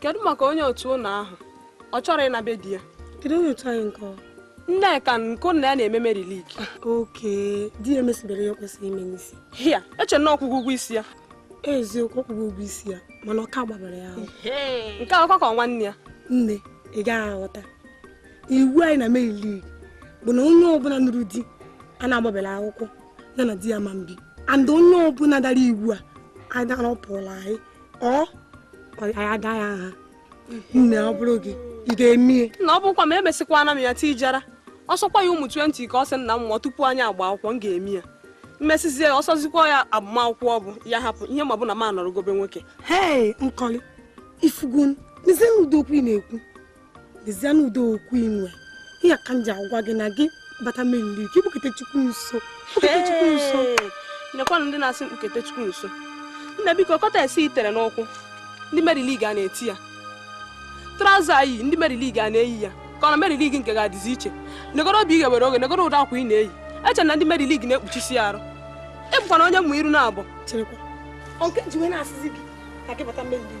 kedu maka onye otu unu ahụ ọ chọrọ ịna be di ya kedu onye otu anyị nke Nneka nke unu na ya na-eme Mary League okay di ya emesibere ya kwesịrị ime n'isi hia eche m na ọ kwụgo ụgwọ isi ya eziokwu ọ kwụgo ụgwọ isi ya mana ọ ka gbabara ya ahụ nke akwụkwọ ka nwanne ya nne ị gaghị aghọta iwu anyị na Mary League bụ na onye ọbụla nụrụ di a na-agbabela akwụkwọ ya na di ya ama ebi and onye ọbụla dara iwu a anyị dara ọ pụọla anyị ọ anyị ada ya nha nne ọ bụrụ gị ị ga-emie na ọ bụkwa ma emesịkwana m ya tijara ọ sọkwa ya ụmụ 20 ka ọ sị na m mụọ tupu anyị agba akwụkwọ m ga-eme ya m mesizie ya ọ sọzikwa ya agbamakwụkwọ ọ bụ ya hapụ ihe ma bụ na m anọrọgo be nwoke hei Nkọli ị fụgonụ lezienụ ụdị okwu ị na-ekwu lezie n'udo okwu inwe ihe ka m ji agwa gị na gị bata meri ka ikpukete chukwu nso nekwanụ ndị na-asị mkpukete chukwu nso nna biko cortex i tere n'ụkwụ ndị meri lig a na-ete ya traụza a i yi ndị meri lig a na-eyi ya ka ọ na meri lig nke gị adịzi iche negoro obi ị ghewere oghe negoro ụdị akwa ị na-eyi eche na ndị meri lig na-ekpuchisi arụ ịbụkwana onye mma iru naabọ nke ji wee na-asịzi gị ka gị bata meri lig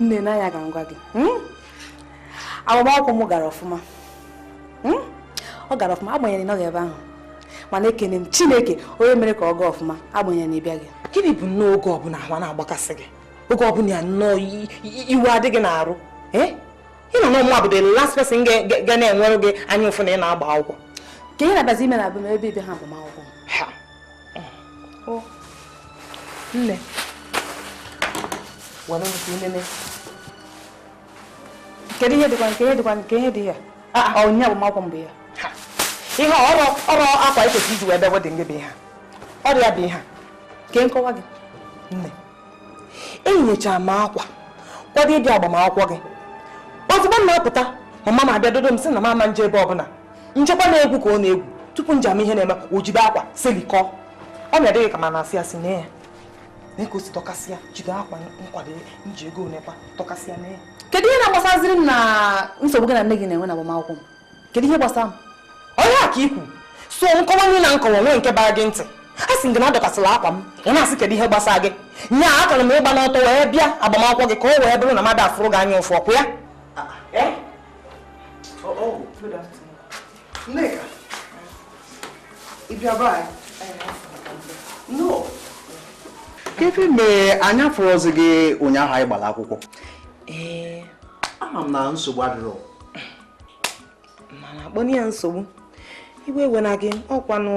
nne nee anya ka m gwa gị hmm? agbamakwụkwọ m gara ọfụma hmm? ọ gara ọfụma agbanyeghị na ị nọghị ebe ahụ mana ekene m chineke onye mere ka ọ gaa ọfụma agbanyeghị na ị bịaghị gịnị bụ nnọọ oge ọbụla ahụ na-agbakasị gị oge ọbụla ya nnọọ iwe adị gị n'arụ eh? ị ma na ọ mụwa bụ the last person ga na-enwere gị anya ụfụ na ị na-agba akwụkwọ ka ị na-abazi ime na abụm ebe ibe ha agbamakwụkwọ nne were nke inene kedu ihe dịkwa nke ihe dịkwa nke ihe dị ya ọnya bụ makwụ mbụ ya ihe ọrụ ọrụ akwa ikwesị iji wee bịa wedding gị bụ ihe a ọ ya bụ ihe a ka m kọwaa gị nne eyinyechara m akwa kwado ịbịa agbamakwụkwọ gị ozugbo m na-apụta mama m abịa dodo m sị na m ama nje ebe ọbụla m chekwa na egwu ka ọ na-egwu tupu nje ịma ihe na-eme o jide akwa silikọ ọ ma adị gị ka m na-asị asị nee ya nee ka o si dọkasịa jide akwa nkwado nji ego one kwa dọkasịa nee kedu ihe na-agbasaziri m na nsogbu gị na nne gị na-enwe na agbamakwụkwọ m kedu ihe gbasara m ọ ihe a ka ikwu so nkọwa nile m kọwa nwee nke bara gị ntị a sị gị na adọkasịla akwa m ị na-asị kedu ihe gbasara gị nya akara m ịgba n'ọtọ wee bịa agbamakwụkwọ gị ka o wee bụrụ na mmadụ afụrọ gị anya ụfụ ọkwa ya ah, ah, eh? oh, oh, Nneka, ị bịa be anyị kedu mgbe anyị afụrọzi gị ụnyaahụ anyị gbara akwụkwọ ee ama m na nsogbu adịrọ mana akpọna ya nsogbu iwe ewena gị ọkwanụ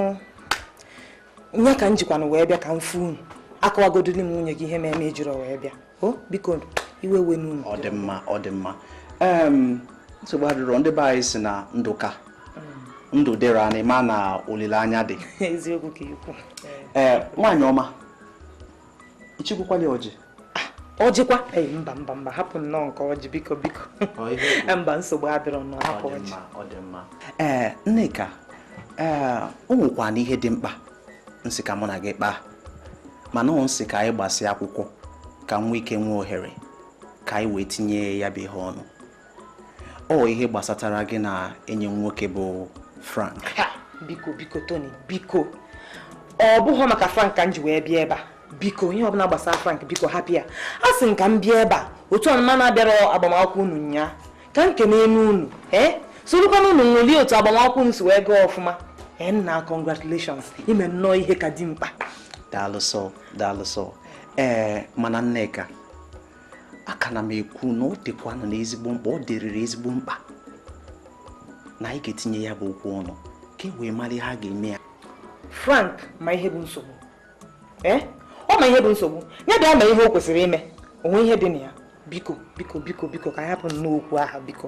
nya ka m jikwanụ wee bịa ka m fụ unu akọwagodili m nwunye gị ihe mere m ejiro wee bịa o biko iwe ewena unu ọ dị mma ọ dị mma nsogbu adịrọ ndị be anyị si na ndụ ka mm. ndụ dịrị anyị ma na olileanya dị eziokwu ka ikwu ee nwaanyị ọma ichikwukwala ọjị ọjịkwa ah, ee mba mba mba hapụ nnọọ nke ọjị biko biko mba nsogbu adịrọ nnọọ hapụ ọjị ee eh, nneka ee eh, o nwekwana ihe dị mkpa nsị ka mụ na gị kpaa mana ọ nsị ka anyị gbasịa akwụkwọ ka m nwee ike nwee ohere ka anyị wee tinye ya bụ ihe ọnụ ọ ihe gbasatara gị na enyi m nwoke bụ Frank biko biko Tony biko ọ bụghị maka Frank ka m ji wee bịa ebe a biko ihe ọbụla gbasara Frank biko hapụ ya asị m ka m bịa ebe a otu ọnụma na-abịara agbamakwụkwọ unu nya ka m kene enu unu ee sorokwana unu ṅụlie otu agbamakwụkwọ unu si wee gaa ọfụma ee nna congratulations i me nnọọ ihe ka dị mkpa daalụ sọ daalụ sọ ee mana Nneka a ka na m ekwu na ọ dịkwanụ na ezigbo mkpa ọ dịrịrị ezigbo mkpa na anyị ga-etinye ya bụ okwu ọnụ ka e wee mara ihe a ga-eme ya Frank ma ihe bụ nsogbu eh? ọ ma ihe bụ nsogbu ya bịa mee ihe o kwesịrị ime o nwee ihe dị na ya biko biko biko biko ka anyị hapụnụ okwu ahụ biko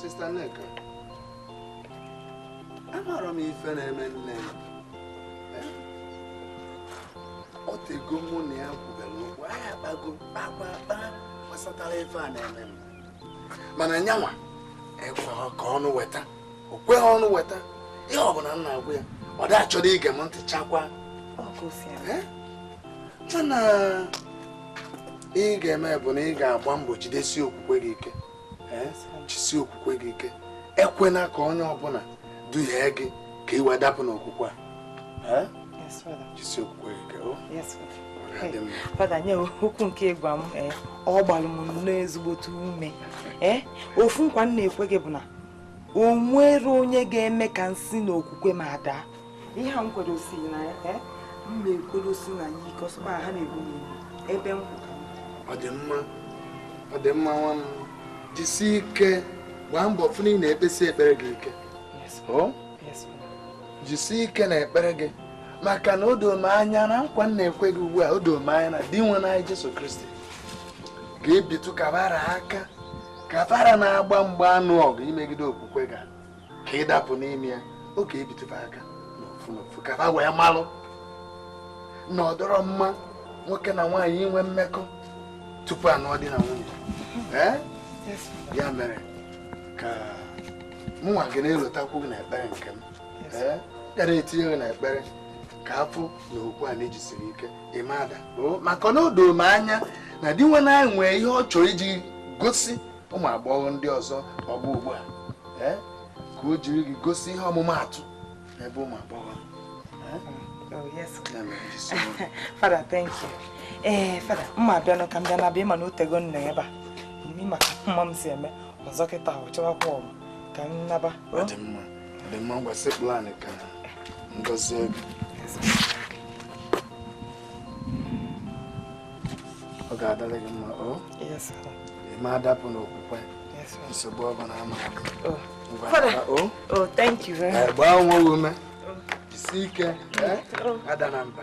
Sista Nneka, amarọ m ife na-eme nne ya. Eh? Ọ tego mụ na ya kwubere okwu, anyị akpago kpaa kpaa kpaa gbasatara ife a na-eme m. Mana nyanwa ekwe ka ọnụ weta, o kweghị ọnụ weta, ihe ọ bụla m na-agwa ya, ọ da-achọdị ige m ntị chakwa. Ọ ka o si eme. Eh? Mana ihe ị ga-eme bụ na ị ga-agba mbọ jidesi okwukwe gị ike jisi okwukwe gị ike ekwena ka onye ọbụla duhie gị ka ị wee dapụ n'okwukwe a jisi okwukwe gị ike oh. fada nya okwu nke ị gwa m eh, ọ gbalụ m nnọọ ezigbote ume eh, ofu nkwa m na-ekwe gị bụ na o nwerọ onye ga-eme ka m si n'okwukwe m a daa ihe a m kwedosi na ya eh, m na-ekwedosi na ya ike ọ sọkwa ha na-egbu m ebe m ọ dị mma ọ dị mma nwa m jisi ike gbaa mbọ fụ na ị na-ekpesi ekpere gị ike oh? jisi ike n'ekpere gị maka na o doo m anya na nkwa m na-ekwe gị ugbu a o doo m anya na Dinwenụ anyị Jesu Kristi ga-ebitu ka ba ra aka ka ba ra na-agba mgba anụ ọgụ imegide okwukwe gị a ka ị dapụ n'ime ya ọ ga-ebitu fa aka n'ofu n'ofu ka ha wee malụ na ọ dịrọ mma nwoke na nwaanyị inwe mmekọ tupu a nụọ di na nwunye eh? ya mere ka mụnwa ga na-elotakwu gị n'ekpere nke m eh? ga na-etinye gị n'ekpere ka a fụ na okwu a na i jisiri ike ị ma ada maka na o doo m anya na Dinwenụ anyị nwee ihe ọ chọrọ iji gosi ụmụ agbọghọ ndị ọzọ ọgbọ ugbu a eh, ka o jiri gị gosi ihe ọmụmaatụ n'ebe ụmụ agbọghọ Oh, yes. Father, thank you. Ee, eh, Father, mụ abịanụ ka m bịa naba ị ma na o tego m nọ ebe a. Ị ma ka mama m si eme ọzọ kịta ọ chọwakwa ọgụ ka m naba. Ọ dị mma, ọ dị mma ngwa sekpulu ana ka m gọzie gị. ọ ga-adịrị gị mma o ị ma adapụ n'okwukwe nsogbu ọ bụla ama gbaa onwe gị ume jisi ike adana mba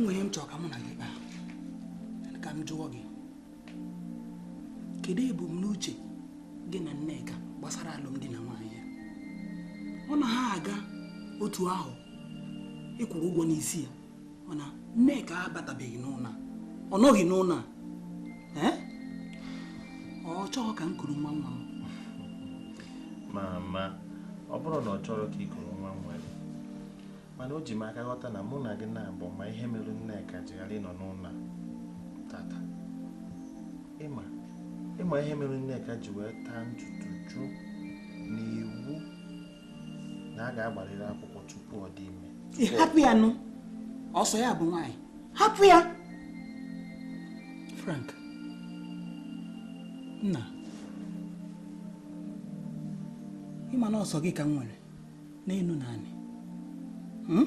nwere ihe m chọrọ ka mụ na gị kpaa ka m jụọ gị kedu ebumnuche gị na Nneka gbasara alụmdi na nwaanyị ya ọ na ha aga otu ahụ ị kwụrụ ụgwọ n'isi ya mana nneka abatabeghị n'ụlọ ọ nọghị n'ụlọ ọ chọrọ ka m kuru nwa nwa m mama ọ bụrọ na ọ chọrọ ka ị kuru nwa nwa gị mana o ji m aka ghọta na mụ na gị naabọ ma ihe mere nneka ji ghara ịnọ n'ụlọ tata ị ma ihe mere nneka ji wee taa ntutu jụụ n'iwu na a ga-agbarịrị akwụkwọ tupu ọ dị ime hapụ ya nụ ọ sọ ya bụ nwaanyị hapụ ya Frank nna ị ma na ọ sọ gị ka m nwere n'elu na anị hmm?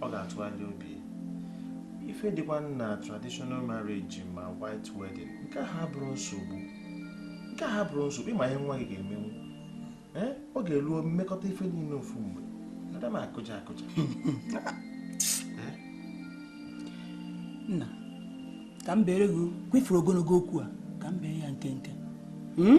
ọ ga-atụgharị obi ife dịkwa na traditional marriage ma white wedding nke ahụ abụrọ nsogbu nke ahụ abụrọ nsogbu ị ma ihe nwa gị ga-emenwu eh? ọ ga-eruo m mekọta ife niile ofu mgbe ada m akụja akụja eh? nna ka m beere gị okwu ị fụrụ ogologo okwu a ka m bee ya nkenke hmm?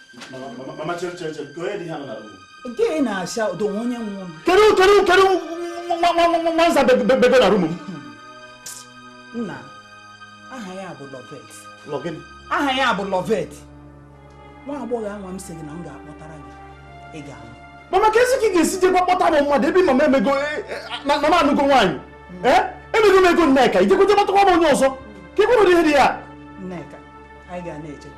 kedu kedu kedu nwa nza bebe na room m nna aha ya bụ lovet aha ya bụ lovet nwa agbọghọ anwa m sị gị na m ga-akpọtara gị ị ga-anụ mama ka esi ka ị ga-esi jekwa kpọta m mmadụ ebe mama ị mago na m anụgo nwaanyị emego m ego nneka ị jekwa jee kpọtakwa m onye ọzọ ka ị kwụrụ ihe dị ya nneka anyị ga na-eje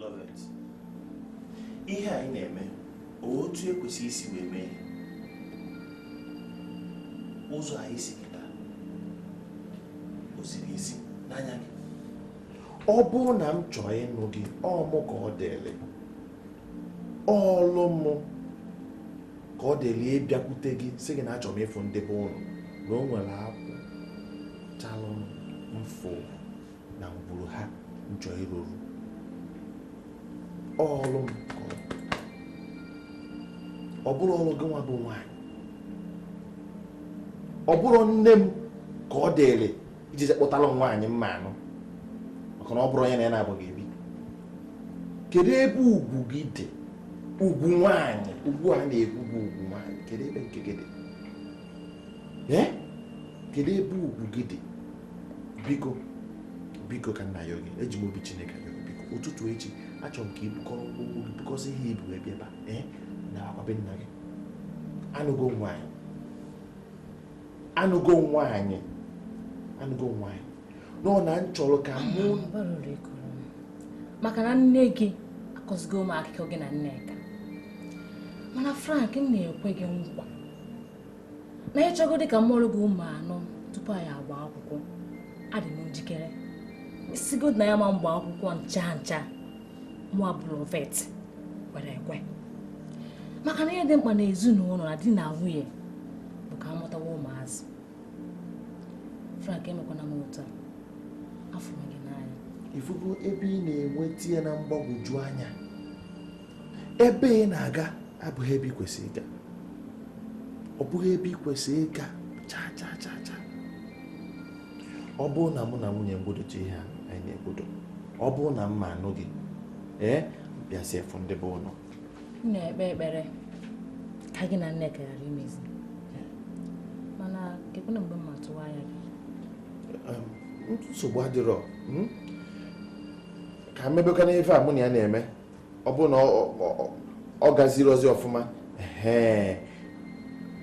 Lovet. ihe anyị na-eme otu e kwesịrị isi wee mee ụzọ anyị si kịta o ziri ezi n'anya gị ọ bụrụ na m chọọ ịnụ gị ọ mụ ka ọ dịrị ọlụ mụ ka ọ dịrị ịbịakwute gị sị gị na achọrọ m ịfụ ndị be ụnụ na o nwere akwụ chalụ m fụ na ngwuru ha njọ ịrụrụ ọrụ m ọ bụrọ ọrụ gị nwa bụ nwaanyị ọ bụrọ nne m ka ọ dịrị iji kpọtara m nwaanyị m ma-anụ maka na ọ bụrọ onye na ya na-abụghị ebi kedu ebe ugwu gị dị ugwu nwaanyị ugwu a na-ekwu bụ ugwu nwaanyị kedu ebe nke gị dị kedu ebe ugwu gị dị biko biko ka m na-ayọ gị eji m obi Chineke ayọ biko ụtụtụ echi achọrọ m ka i bukọrọ ụkwụ gị bukọsị ihe i bu bịa ebe a nabakwa be nna gị anụgo nwaanyị anụgo nwaanyị anụgo nwaanyị nọ na m chọrọ ka mụ maka na nne gị akọzigo m akụkọ gị na Nneka mana Frank m na-ekwe gị nkwa na ị chọgodi ka m mụọrọ gị ụmụ anọ tupu anyị agba akwụkwọ adị m njikere i sigodi na anyị ama agba akwụkwọ ncha ncha mụwa bụ Lovet kwere ekwe maka na ihe dị mkpa na ezinụlọ na di na nwunye bụ ka a mụtawa ụmụazị Frank emekwana m otu a afụrụ m gị n'anya ị fụgo ebe ị na-etinye m na mgbagwoju anya ebe ị na-aga abụghị ebe ị kwesịrị ịga ọ bụghị ebe ị kwesịrị ịga chaa chaa chaa chaa ọ bụrụ na mụ na nwunye m gwodocha ihe a anyị na-egwodo ọ bụrụ na m ma-anụ gị ee bịazie fụ ndị be unu m na-ekpe ekpere ka gị na Nneka ghara imezi mana kekwanụ mgbe m ma-atụwa anya gị nsogbu adịrọ hmm? ka m mebekwana ife a mụ na ya na-eme ọ bụ na ọ gaziri ozi ọfụma ee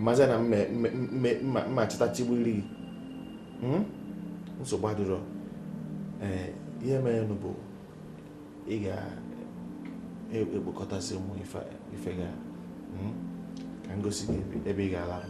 mazi na m ma-achịtachigburiri gị hmm? nsogbu adịrọ ee ihe merenụ bụ ị ga-ekpokọtasị e, e, ụmụ ife ga hmm? ka m gosi gị ebe ị ga-alarụ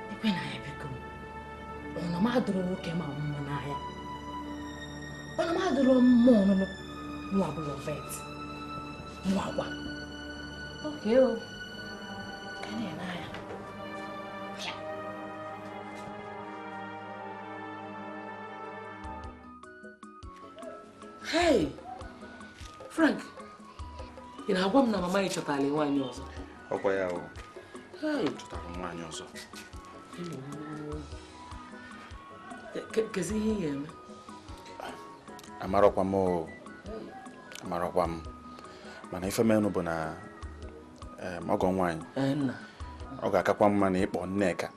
ekwe na ya biko ọnụ m adụrụ nwoke ma mmụ n'ahịa ọnụ m adụrụ mmụ ọnụnụ mụwa bụ Lovet mụ agwa oke o ka na-eme anya Hey! Frank, ị na-agwa m na mama ị chọtara nwaanyị ọzọ? Ọkwa ya o. Hey! Chọtara nwaanyị ọzọ. Kezi ihe ị ga-eme? Amarọkwa m o. Amarọkwa m. Mana ife menụ bụ na ọgọ nwaanyị. Eh, Ọ ga-akakwa mma na ị kpọọ Nneka.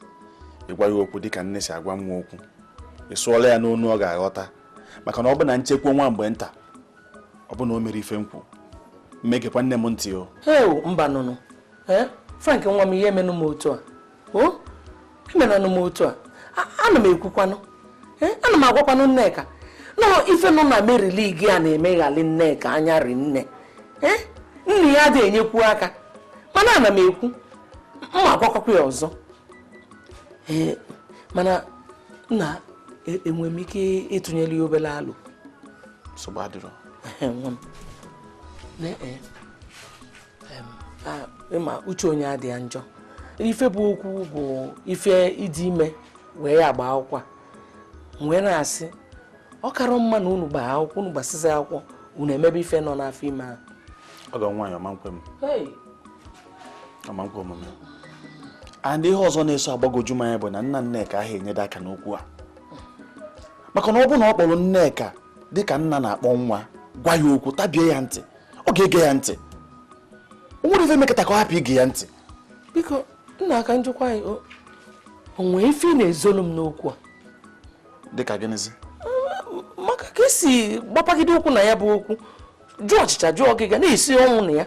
Ị gwa ya okwu dịka nne si agwa nwa okwu. Ị sụọla ya n'onu ọ ga-aghọta. maka na ọ bụ na nchekwa nwa mgbe nta ọ bụ na o mere ife nkwu mma egekwa nne m ntị o heo mba nụnụ ee frank nwa m ihe emenụ m otu a o emenanụ m otu a A- ana m ekwukwanụ ee ana m agwakwanụ nneka na ife nọ na Mary League a na-emeghali nneka anya rinne ee nna ya adịghị enyekwu aka mana ana m ekwu mma agwakwakwa ya ọzọ ee mana nna enwere m ike ịtụnyere ya obere alo nsogbu adịrọ ịma uche onye adị ya njọ ife bụ okwu bụ ife ịdị ime wee ya agba akwụkwọ wee na-asị ọ karọ mma na unu gbaa akwụkwọ unu gbasizi akwụkwọ unu emebe ife nọ n'afọ ime ahụ ọgọ nwaanyị ọ ma nkwe m ọ ma nkwe omume and ihe ọzọ na-eso agbagoju m anya bụ na nna nneka ahụ enyeda aka n'okwu a maka na ọ bụrụ na ọ kpọrọ nneka dịka nna na-akpọ nwa gwa ya okwu tabie ya ntị ọ ga-ege ya ntị o nwere ife mekata ka ọ hapụ ige ya ntị biko nna ka njụkwa gị o nwee ife ị na-ezolu m n'okwu a dịka gịnịzi maka ka i si gbapagide ụkwụ na ya bụ okwu jụ ọchịcha jụ ọgịga na-esi ọnwụ na ya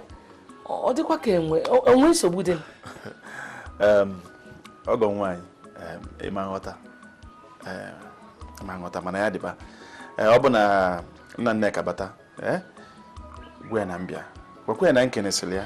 ọ dịkwa ka ee o nwee nsogbu dị ọgọ nwaanyị ị ma nghọta ị ma nghọta mana ya dịba ọ bụ na nna Nneka bata gwa ya na mbịa gwakwa ya na nkenesịrị ya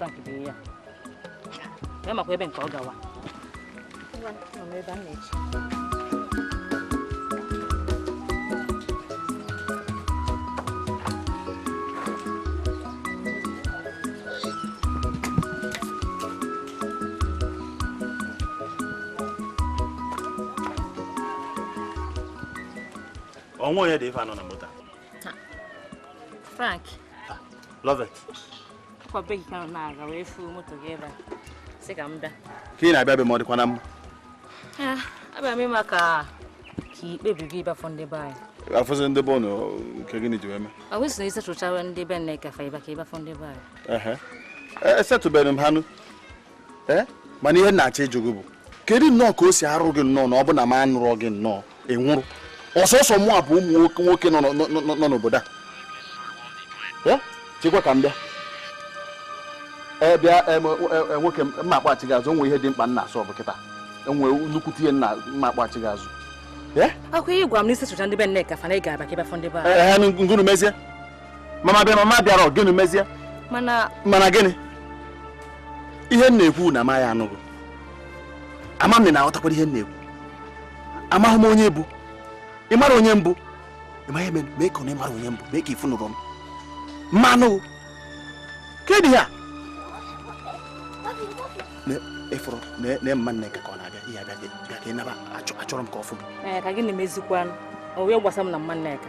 Frank dị ya. A makwa ebe nke a ọ gawa. o nwe onye dị ife anọ na moto Frank Lovet ka ị na-abịa be m ọ dịkwa na mma ah, abịa m ịma ka ka ikpebi gị ịbịa afụ ndị be anyị afụzi ndị be ụnụ nke gịnị ji wee mee ọ bụ na isetụchawa ndị be nneka fa ịba ka ị bịa afụ ndị be anyị esetụbeghị e, e m ha nụ eh? mana ihe m na-achọ ịjụ gị bụ kedu nnọọ ka o si arụ gị nnọọ na ọ bụ na m anụrọ gị nnọọ ị nwụrụ ọ sọsọ mụa bụ ụmụ nwoke nọ n'obodo a eh? chekwa ka m bịa ee bịa e, nwoke m m ga-akpọghachi gị azụ o nwe ihe dị mkpa m na-asolve kịta enwe nnukwu ihe nna m ga-akpọghachi gị azụ ọkwa ị gwa m na i si fụcha ndị be Nneka fa na ị ga-abịa ka ị bịa fụ ndị be anyị gụnụ mezie mama bịa mama bịara gịnị mezie mana mana gịnị ihe m na-ekwu na m maghị anụ gị ama m na ị ghọtakwara ihe m na-ekwu amaghị m onye ị bụ ị mara onye m bụ ị maghị eme mee ka ọ na ị mara onye m bụ mee ka ifu nụrụ m mmanụ kedụ ya ị fụrụ na mama nneka ọ na-abịa ebe a bịa ka ị naba achọrọ m ka ọ fụ gị ka gị na-emezikwanụ o wee gbasa m na mama nneka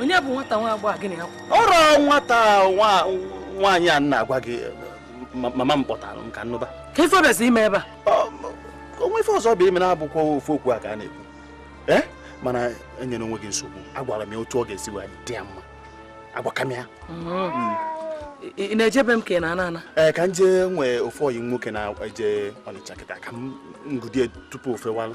onye bụ nwata nwa agbọghọ gị na ya kwụrụ nwata nwaanyị a m na-agwa gị mama m kpọtara m ka m nụba ka ife ọ bịazi ime ebe a o nwe ife ọzọ ọ bịa ime na-abụkwa ofu okwu a ka a na-ekwu ee mana enyena onwe gị nsogbu agwara m ya otu ọ ga-esi wee dị ya mma agwaka m ya mm. ị na-eje be m ka ị na-ana ana ee ka m jee e nwe ofu ọyị m nwoke na-eje ọnịcha kịta ka m nwudie tupu ofe walụ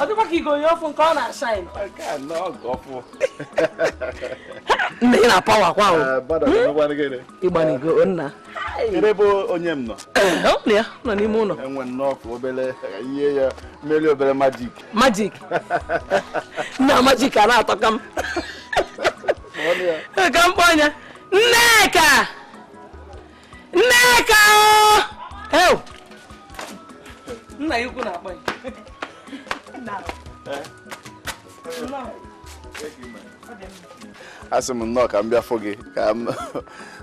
ọ dịkwa ka i gonye ọfụụ nke ọ na-ashine nna ị na-apawa kwa ahụ ị gbanigo nna ebe bụ onye m nọ ya nọ n'ime ụlọ enwe nnọọ ka obere ihe ya mmeri obere magic magic nna magic a na-atọka m ka m kpọọ ya nneka nneka ew nna ya ukwu na-akpọ ya asị m nnọọ ka m bịa fụ gị ka m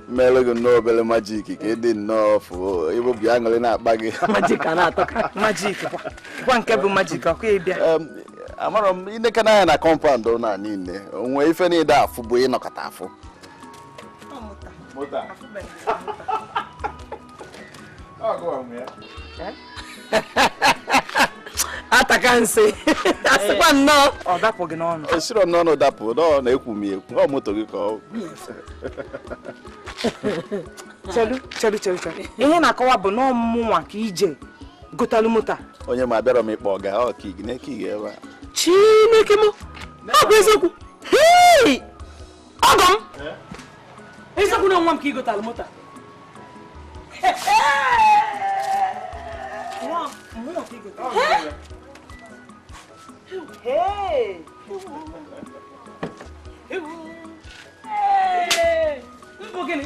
meere gị nnọọ obere magic ka ị dị nnọọ fụ ebe obi aṅụrị na-akpa gị magic a na-atọka magic kwa kwa nke bụ magic ọkwa ịbịa Em, amarọ m i nekana anya na compound a niile o nwe ife ị na-adị afụbu ị nọkata afụ moto ataka nsị asịkwa eh. nnọọ ọ dapụ gị n'ọnụ o siro n'ọnụ dapụ nọọ na-ekwu m ekwu ọ moto gị ka ọ chelu chelu chelu chelu ihe ị na-akọwa bụ na ọ mụnwa ka i je gotalu moto onye ma abịara m ịkpọ ọga ọ ka ị na-eke ebe a chineke m ọ bụ eziokwu ọgọ m eziokwu na nwa m ka ị gotalụ moto Hey! bụ gịnị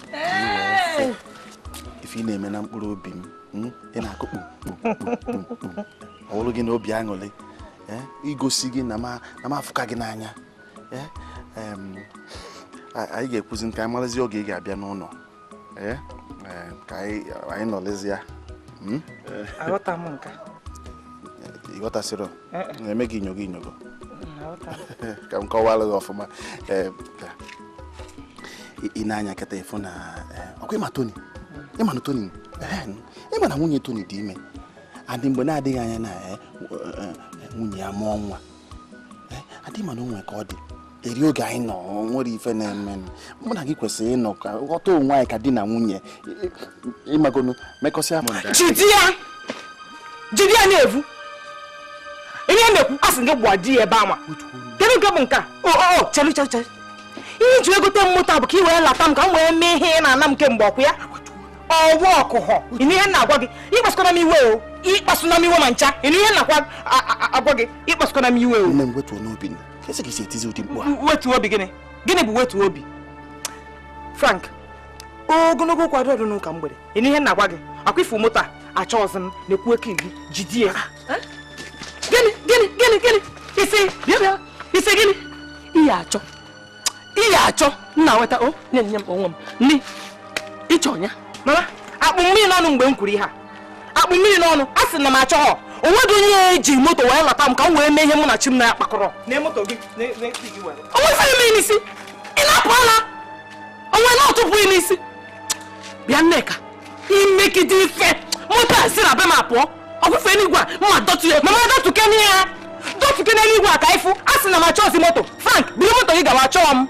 ife ị na-eme na mkpụrụ obi m hmm? ị na-akụ kpukpukpukpukpum ọ bụrụ gị na obi aṅụrị eh? igosi gị na m afụka gị n'anya eh? anyị ga-ekwuzi ka anyị marazi oge ị ga-abịa n'ụlọ eh? ka anyị nọlizie hmm? aghọta m nke a ị ghọtasịrọ na-eme gị inyogo inyogo ka m kọwara gị ọfụma i nee anya kịta ịfụ na ọkwa ịma Tony ịma na Tony ịma na nwunye Tony dị ime and mgbe na-adịghị anya na nwunye ya amụọ nwa and ịma na o nwe ka ọ dị eri oge anyị nọ nwere ife na-eme mụ na gị kwesịrị ịnọkọ ghọta onwe anyị ka di na nwunye ịmagonu mekọsịa m jide ya jide ya na-evu ihe a na-ekwu asị gị gwa di ya ebe ama kedu nke bụ nke a o o chere chere chere ihe i ji egote m moto bụ ka ị wee lata m ka m wee mee ihe ị na-ana m kemgbe ọkụ ya ọwa ọkụhọ ịnụ ihe m na-agwa gị ịkpasụkwana m iwe o ịkpasụna m iwe ma ncha ịnụ ihe m na-agwa gị ịkpasụkwana m iwe o kesi ka isi etizi ụdị mkpu a wetu obi gịnị gịnị bụ wetu obi Frank ogologo okwu adịrọ n'ụka mgbede ịnụ ihe m na-agwa gị ọkwa ịfụ moto a achọghọzi m na-ekwu eke iri jidie ah, eh? gịnị gịnị gịnị gịnị ị sị bịa bịa ị sị gịnị ihe achọ ihe achọ nna weta o nye nye m onwe m nne ịchọ ya mama akpụ m mmiri n'ọnụ mgbe m kwuru ihe a akpụ m mmiri n'ọnụ asị m na m achọghọ onweghị onye ya-eji moto wee lata m ka m wee mee ihe mụ na chi m na ya kpakọrọ onwe ife eme n'isi ị na-apụ ala onwe na ọtụpụ n'isi bịa Nneka imegide ife moto a si na be m apụọ ọfụfe n'igwe a mma dọtụ ya mama dọtụke n'ihe ya dọtụke n'eluigwe a ka ịfụ asị m na m achọghịzi moto Frank buru moto gị gawa achọọ m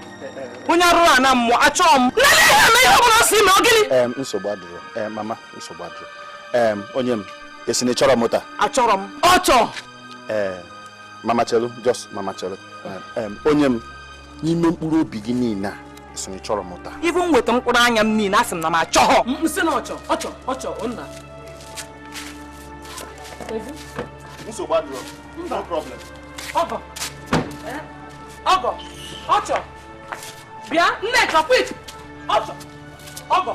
onye arụrụ a na mmụọ achọọ m nne ihe eme ihe ọ bụla ọ sị ma ọ gịnị nsogbu adịrọ mama nsogbu adịrọ ee onye m ị sị na ịchọrọ moto achọrọ m ọchọ ee mama chelu just mama chelu onye m n'ime mkpụrụ obi gị niile a ị sị na ịchọrọ moto ibu m weta mkpụrụ anya m niile asị m na m achọghọ m sị na ọchọ ọchọ ọchọ nna nsogbu adịrọ no problem ọgọ ọgọ ọchọ bịa Nneka quick ọgọ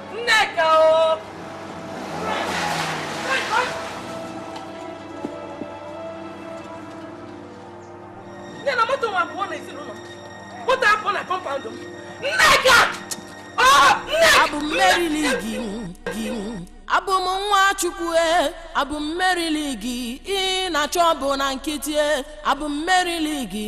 abụ mmeri ligi ị na-achọ bụ na nkịtị abụ mmeri ligi